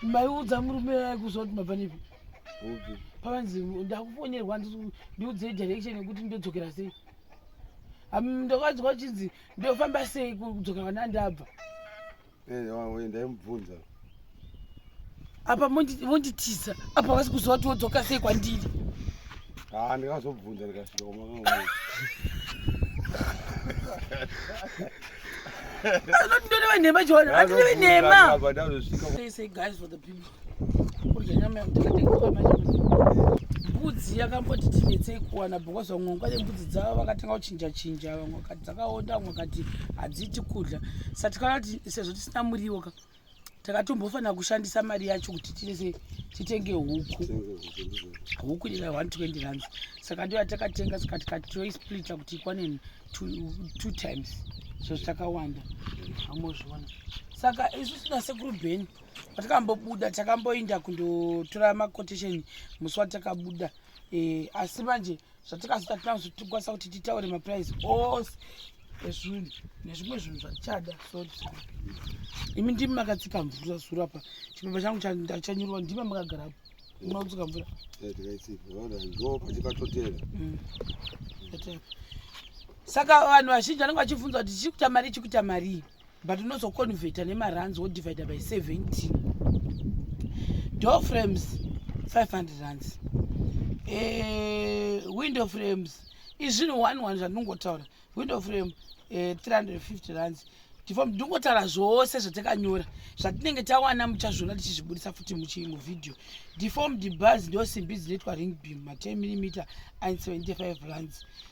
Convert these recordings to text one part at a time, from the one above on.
maiudza murume aye kuziva kuti mabva nepi pakanzi ndakufonerwa ndiudzei direction yekuti ndodzokera sei ndokanzwa uchinzi ndofamba sei kudzokera kwana ndabva eh, ndaimubvunza apa monditisa apa vasi kuziva kuti wodzoka sei kwandiri Ah, ndikazobvunza ndikasvika kwamakaona. Ndinonewe nhema John, andinowe nhema. Apa ndazosvika kwa- They say guys for the people. Kurya nyama yakatekwa manje. Mbudzi yakamboti tinetsei kuwana because vamwe vanga vane mbudzi dzavo vakatanga kuchinja chinja vamwe vakati dzakaonda vamwe vakati hadziti kudya. Saka tikati sezvo tisina muriwo ka takatombofanira kushandisa mari yacho kuti tise titenge huku huku ira 120 runs saka ndo yatakatenga saka tikatoisplita kuti ikwane two times so zvitakawanda amozviona saka isu sina sekuru beni patikambobuda takamboinda kundotora macotation musi watakabuda eh, asi manje e, zvatakazoita tinazo tikwanisa kuti titaure maprice ose ezvinhu nezvimwe zvinhu zvatichada sori imi ndimi makatsika mvura zuro apa chipepa changu ndachanyurwa ndima makagarapo unotsika mvura mm. saka vanhu vazhinji vanenge vachibvunza kuti chichikuta mari chikuta marii but unozoconveta nemarands wodivide by 17 door frames 500 rands eh, window frames izvinhu 11 zvandinongotaura window frame eh, 350 rands tifom ndingotaura zvose zvatakanyora zvatinenge tawana muchazviona tichizvibudisa futi muchimuvhidhiyo deform debars ndo simbi dzinoitwa ring beam ma10 mm and 75 rands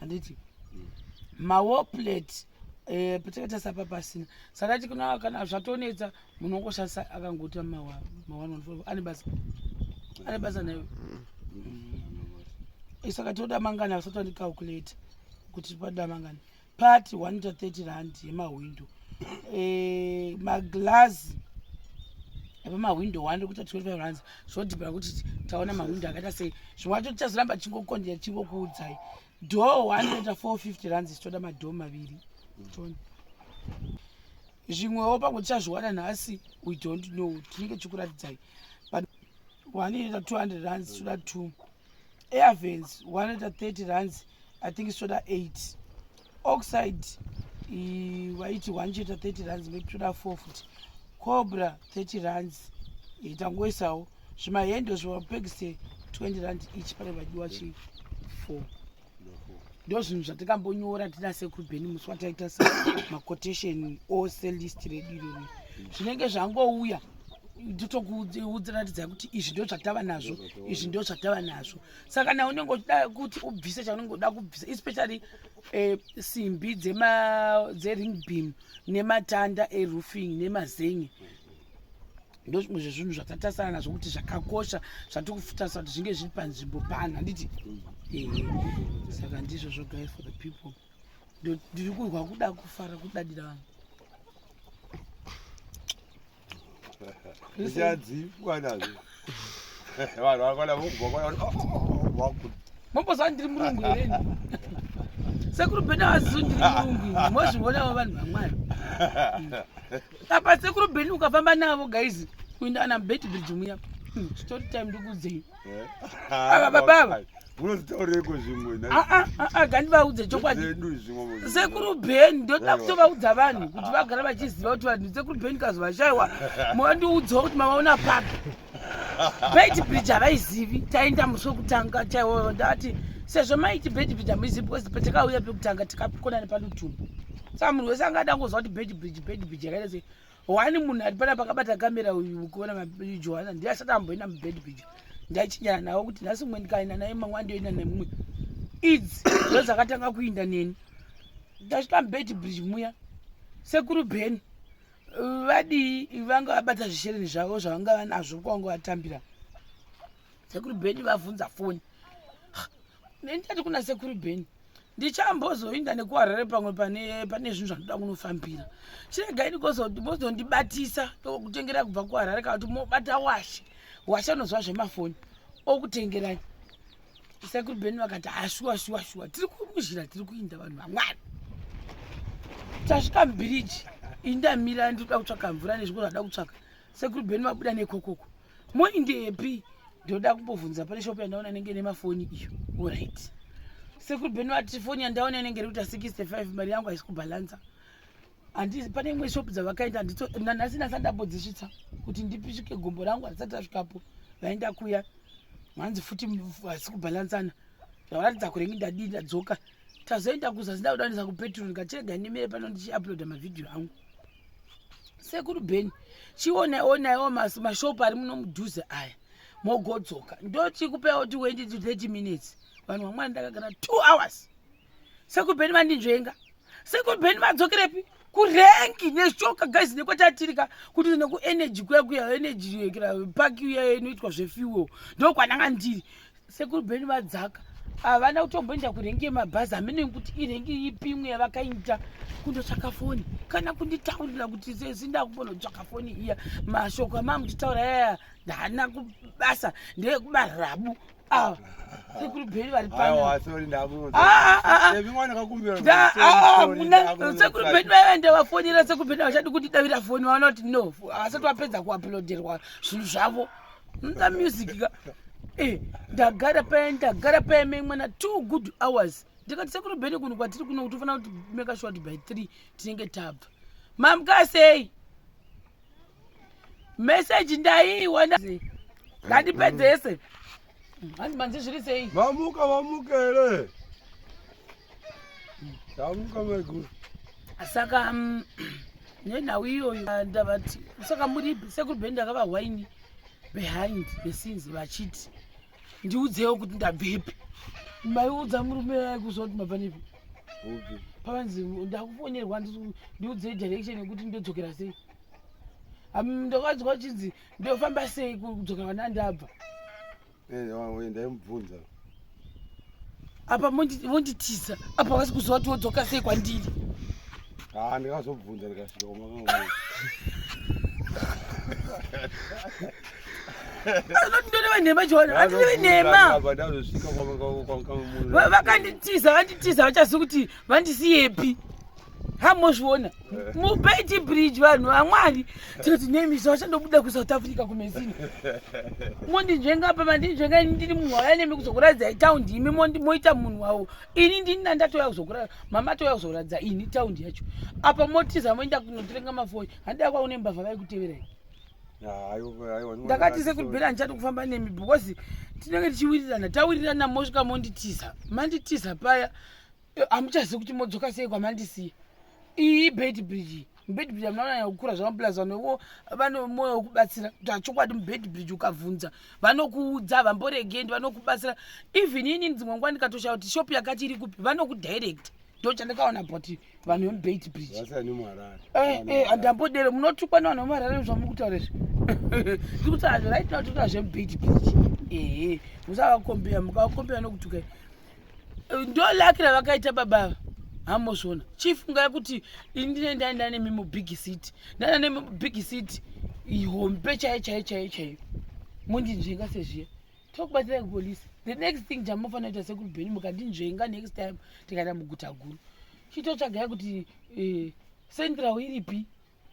handiti mm. mawo plate eh, patakaita sapa pasina saka ti kuna kana zvatonetsa munhu wongoshandisa akangoti mawanofo ane basa ane basa nayo eh, saka toda mangani asati andicalculate kuti pada mangani pati 130 rand yemahwindo eh, maglazi epamahwindo 1 rekuita 25 rands zvodhibhira kuti taona mahwindo akaita sei zvimwe wacho tichazoramba tichingokonjera tichingokuudzai dhoo 10450 ranzi tichitoda madhoo maviri toni zvimwewo pamwe tichazviwana nhasi we don't know tinenge tichikuratidzai but 100 ranzi tichitoda two airvens 130 ranzi i think tichitoda eight oxide vaiti one cheta 30 runs maybe toda four futi cobra 30 runs tangoisawo zvimahendo zvimapekise 20 rand each pane vadiwa chi four ndo zvinhu zvatikambonyora tina sekuru beni musi wataita se maquotation ose list redu irori zvinenge zvangouya totokuudziratidzai kuti izvi ndo zvatava nazvo izvi ndo zvatava nazvo saka nawe unenge uchida kuti ubvise chaunenge uda kubvisa especially eh, simbi dzering beam nematanda eroofing nemazengi ndo zvimwe zvezvinhu zvatatasana nazvo kuti zvakakosha zvatiri kufutasira kuti zvinge zviri panzvimbo pano handiti ehe saka ndizvo zvogai for the people ndiri kurwa kuda kufara kudadira vanhu zvichadzipwa nazvo vanhu vakwana vokubva mambozaa ndiri murungu hereni sekuru bheni avazizo ndiri murungu ini mozvionawo vanhu vamwari apa sekuru bheni ukafamba navo gaizi kuinda ana mbeti bridge muya hmm, story time ndikuudzei ava baba ava unozitaureko zvimwe gandivaudze chokwadi sekuru bheni ndoda kutovaudza vanhu kuti vagara vachiziva kuti vanhu sekuru bheni kazovashaiwa mwandiudzawo kuti mavaona papi beti bridge havaizivi taenda musi wekutanga chaiwoyo ndati sezvo maiti beti bridge hamuizivi because patakauya pekutanga tikakonane panotumba saka munhu wese anga adangoziva kuti beti bridge beti bridge yakaita sei wani munhu ari pana pakabata kamera uyu ukuona majohana ndiye asati amboenda mubed pija ndaichinyana nawo kuti nhasi umwe ndikaenda naye mamwe andiyoenda nemumwe idzi ndo dzakatanga kuinda neni ndasvika mubed bridge muya sekuru ben vadii vanga vabata zvishereni zvavo zvavanga vanazvo kwavanga vatambira sekuru ben vavhunza foni nendati kuna sekuru beni ndichambozoinda nekuharare pamwe pane pane zvinhu zvanoda kunofambira chiregai ndikozondibatisa tokutengera kubva kuharare kana kuti mobata washe washe unozwa zvemafoni okutengerai sekuru beni vakati hashuwa ah, shuwa shuwa tiri kumuzhira tiri kuinda vanhu vamwari tasvika mubiriji indamira ndikuda kutsvaka mvura nezviko zvada kutsvaka sekuru beni vabuda nekokoko moindepi ndoda kumbobvunza pane shop yandaona inenge ine mafoni iyo orit sekuru bheni vati foni yandaona inenge iri kuita 65 mari yangu haisi kubhalansa handisi pane imwe shop dzavakaenda nanhasi nasa ndambodzisvitsa kuti ndipishike gombo rangu handisati tasvikapo vaenda kuya hanzi futi hasi kubhalansana zvavaratidza kurenge ndadii ndadzoka tazoenda kuzasi ndakudanisa kupetrol ndikachirega ndimire pano ndichiuploada mavhidhiyo angu sekuru bheni chionaiwo naiwo mashopu ari muno mudhuze aya mogodzoka ndochikupewo ti wendi to 30 minutes vanhu vamwana ndakagara two hours sekuru bheni vandinzvenga sekuru bheni vadzokerepi kurenki neshoka guys nekwatatirika kuti nekuenergy kuya kuya energy park uya inoitwa zvefuel ndokwananga ndiri sekuru beni vadzaka havana kutomboenda kurengi yemabhazi hamene kuti irengi ipi imwe yavakaita kundotsvaka foni kana kunditaurira kuti sesi ndakumbonotsvaka foni iya mashoko amamutitaura yaya ndana kubasa ndeyekubara rabu awa sekuru bheri vari panosekuru bheri vaiva ndavafonera sekuru bheri havachadi kundidavira foni vaona kuti no havasati vapedza kuaploderwa zvinhu zvavo nda music ka eh ndagara paya ndagara paya memwana two good hours ndikati sekuru bhene kuno kwatiri kuno kuti ufanira kuti make sure kuti by three tinenge tabva mamukasei meseji ndaiiwana ngandipedzese hanzi manzi zviri sei vamuka vamuka here Ndamuka maiguru. Saka mm, nenhau iyoyo ah, ndavati saka muri sekuru bhe ndakavahwaini behind the scenes vachiti ndiudzewo kuti ndabvepi maiudza murume aikuziva kuti mabva nepi pavanzi ndakufonerwa ndiudzei direction yekuti ndodzokera sei ndokanzwa chinzi ndofamba sei kudzokera kwana ndabva Eh, ndaimubvunza apa monditiza apa vasi kuziva kuti wodzoka sei kwandiri haa ah, ndikazobvunza ndikasvika kumakaa ndoreva nhema jona andireve nhema vakanditiza vanditiza vachazivi kuti vandisiyepi hamozviona mubeti bridge vanhu vamwari tinoti nemi zvavachandobuda kusouth africa kumesini mondinzvenga pa mandinzvenga ini ndiri munhu wauya nemi kuzokuradzai taundi imi moita munhu wawo ini ndini nandatouya kuzokura mama atouya kuzokuradza ini taundi yacho apa motiza moenda kunotirenga mafoni handida kwaune mbavha vaikuteverai ndakati sekubhira handichati kufamba nemi because tinenge tichiwirirana tawirirana mosvika monditiza manditiza paya hamuchazivi kuti modzoka sei kwamandisiya iyi ibed bridge mubed bridge amunanaya kukura zvamapulazi vanovo vane mwoyo wekubatsira kuti hachokwadi mubed bridge ukabvunza vanokuudza havamboregendi vanokubatsira even ini dzimwe nguva ndikatoshaya kuti shop yakati iri kupi vanokudirecta ndo chandakaona but vanhu vemubed bridge eh, eh, handambodero munotukwa nevanhu vemuharare zvamuri kutaura izvi tiri kutaura zvoraitinaototaura zvemubed bridge ehe musavakombea mukavakombea nokutukai ndolaki ravakaita baba ava hamozviona chifungai kuti ini ndine ndai ndanemi mubig city ndana nemi mubig city hombe chaiyo chaiyo chaiyo chaiyo mondinzvenga sezviya tokubatsira kupolice the next thing chamunofanira kuita sekuri bheni mukandinzvenga next time tikaenda muguta guru chitotsvagai kuti eh, central iripi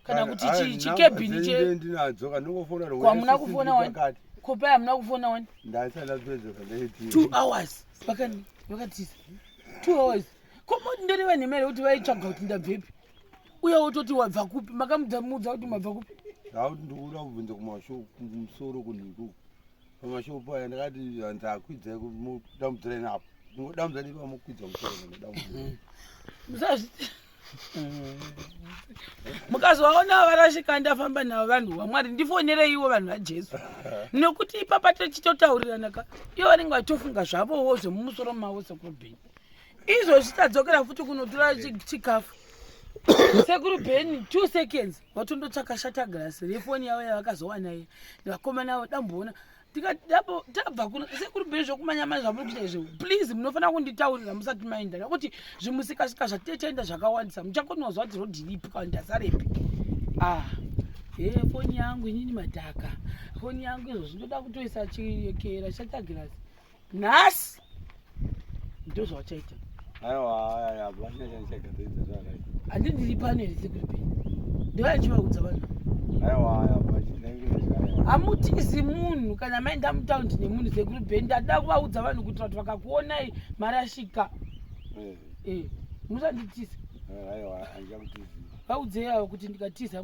kana kuti chikebhini chekwamuna kufona wani kopai hamuna kufona wani two hours vakani vakatiza two hours komoti ndori vanhu imere kuti vaitsvaga kuti ndabvepi uye wototi wabva kupi makamudzamuudza kuti mabva kupi ndauti ndikuda kubvunza kumusoro kunhiku pamashow paya ndakati hanzi akwidzai kudambudzira inapo ndingodambudzira nepamokwidza musoro musazvi mukazovaona varashika ndafamba navo vanhu vamwari ndifonereiwo vanhu vajesu nekuti ipapa tichitotaurirana ka ivo vanenge vachitofunga zvavowo zvemumusoro mavo sekurubheni izvozvi tadzokera futi kunotora chikafu sekuru bheni two seconds vatondotsvaka shatagrasi refoni yavo yavakazowana iye vakomana avo damboona tabva kuno sekuri bheri zvokumanyamai zvamuri kuita izvo please munofanira kunditaurira musati maenda nekuti zvimusikasika zvatetaenda zvakawandisa muchakonozwa kuti rodiripi kana ndasarepi ah he foni yangu inini madhaka foni yangu izvo zvinoda kutoisa chiyekera chatagirasi nhasi ndo zvawachaita handi ndiri pano here sekuripi ndova ndichivaudza vanhu hamutizi munhu kana maenda mutaundi nemunhu sekuru ben ndada kuvaudza vanhu kuitira kuti vakakuonai marashika eh. eh, musanditiza eh, vaudzei avo kuti ndikatiza